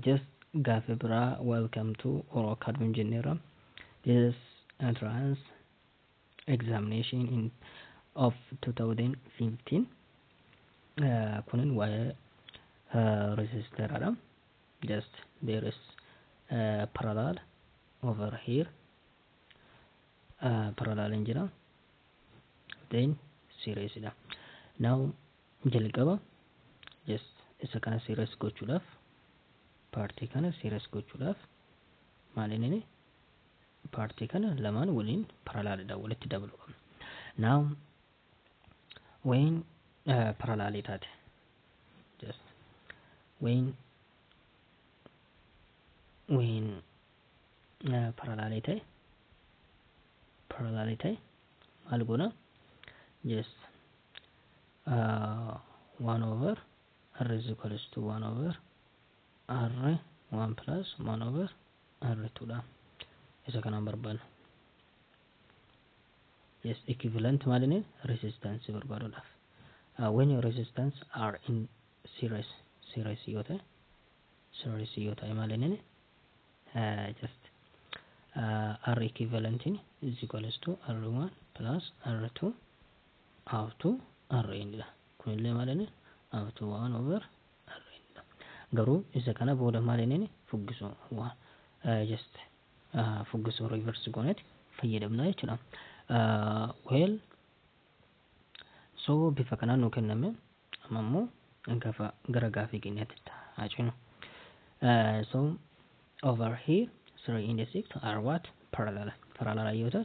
Just gaafi biraa welcome to oro academy jenneera this entrance examination in of 2015 uh, kunin waa'ee uh, registeradha just there is uh, parallel over here uh, parallel in jira then series dha now Jalqaba just isa kana serious gochuudhaaf paartii kana serious gochuudhaaf maal inni paartii kana lamaan waliin paralaalidha walitti dabalu qabna. Now when uh, paralaalii taate just when when uh, paralaalii ta'e paralaalii ta'e maal goona just 1 over r is equals to 1 over r 1 plus 1 over r 2 dha isa kanaan barbaadna yes equivalent maalini resistance barbaaduudhaaf uh, when your resistance are in series series yoo ta'e series yoo ta'e maalini uh, just uh, r equivalent is equals to r1 plus r2 half 2 Rn dha. Kun illee maal inni? half 2 1 over Rn dha. Garuu isa kana booda maal inni fuggisuu waan just fuggisuu reverse gooneeti fayyadamna jechuudha. Well so bifa kanaan nuu kenname amma immoo gafa gara gaafii keenyaatti haa cinu. So over here 3 and 6 are what parallel parallel yoo ta'u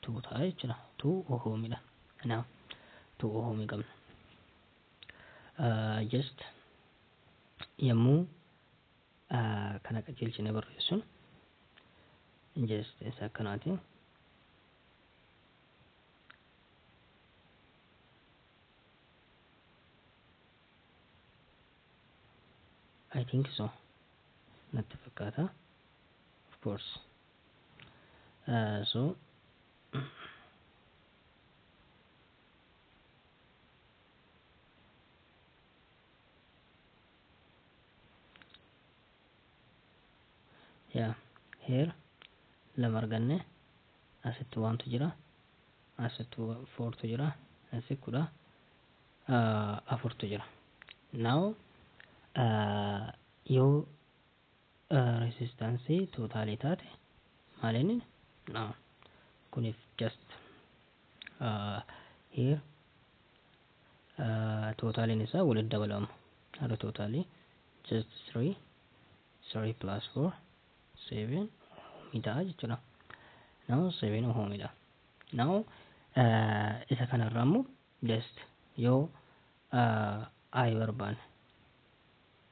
2 ta'a jechuudha. 2 ohoomidha. Kanaaf 2 ohoomii qabna. Uh, just yommuu uh, kana qajeelchine barreessun just isa akkanaati. I think so. Natti fakkaata. Of course. so yeah here lama arganne asitti waantu jira asitti foortu jira asi kudha afurtu jira now yoo Resistance totale taate maalin no kunif just here totalen isaa walitti dabalama har'a totale just 3 3 plus 4 7 ohmi ta'a jechuudha now 7 ohmi dha now isa kanarra ammoo just yoo i barbaanne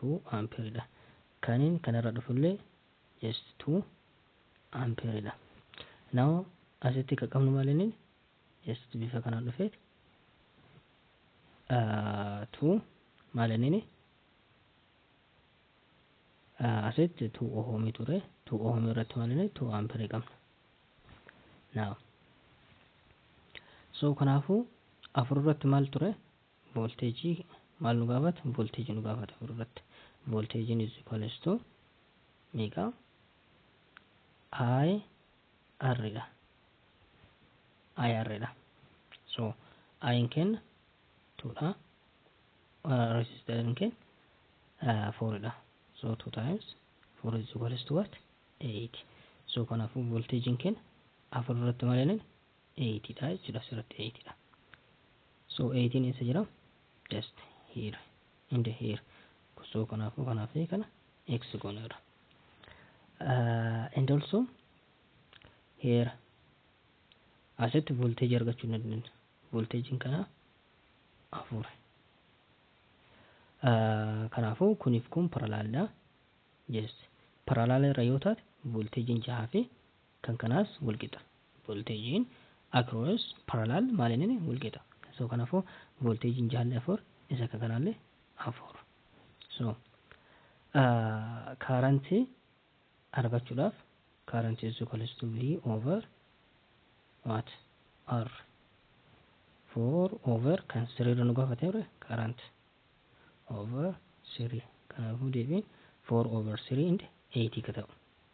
2 ampere dha. Kanin kanarra dhufullee just 2 ampere dha. Now asitti ka qabnu malini just bifa kanaan dhufe uh, 2 malinini uh, asitti 2 ohomii ture 2 ohomii irratti malini 2 ampere qabna. Now so kanaafuu afur irratti maal ture Voolteejii maal nu gaafata? Voolteejii nu gaafata garuu irratti. Voolteejiin is equals to meeqa? I R dha. I R dha. So I'n keenya 2 dha. Resistariin keenya 4 dha. So 2 times 4 is equals to what? 8. So kanaafuu voolteejiin keenya afur irratti maal jenna? 8 dha jechuudha asirratti 8 dha so 8 eessa jira just here and here so kanaafuu kanaa fi kana x gooneerra uh, and also here asitti volteeji argachuu hin dandeenya volteejiin kanaa afur uh, kanaafuu kuniif kun paralaalidha just paralaala irra yoo taate volteejiin jahaa fi kan kanaas wal qixa. Volteejiin across parallel maalinini wal qixa. So kanafuu volteejiin jaalli 4 isa akka kanaalle 4. So current argachudhaaf current is equals to V over what R 4 over kan siriirra nu gaafate ture current over 3 kanaafuu deebiin 4 over 3 and 8 ka ta'u.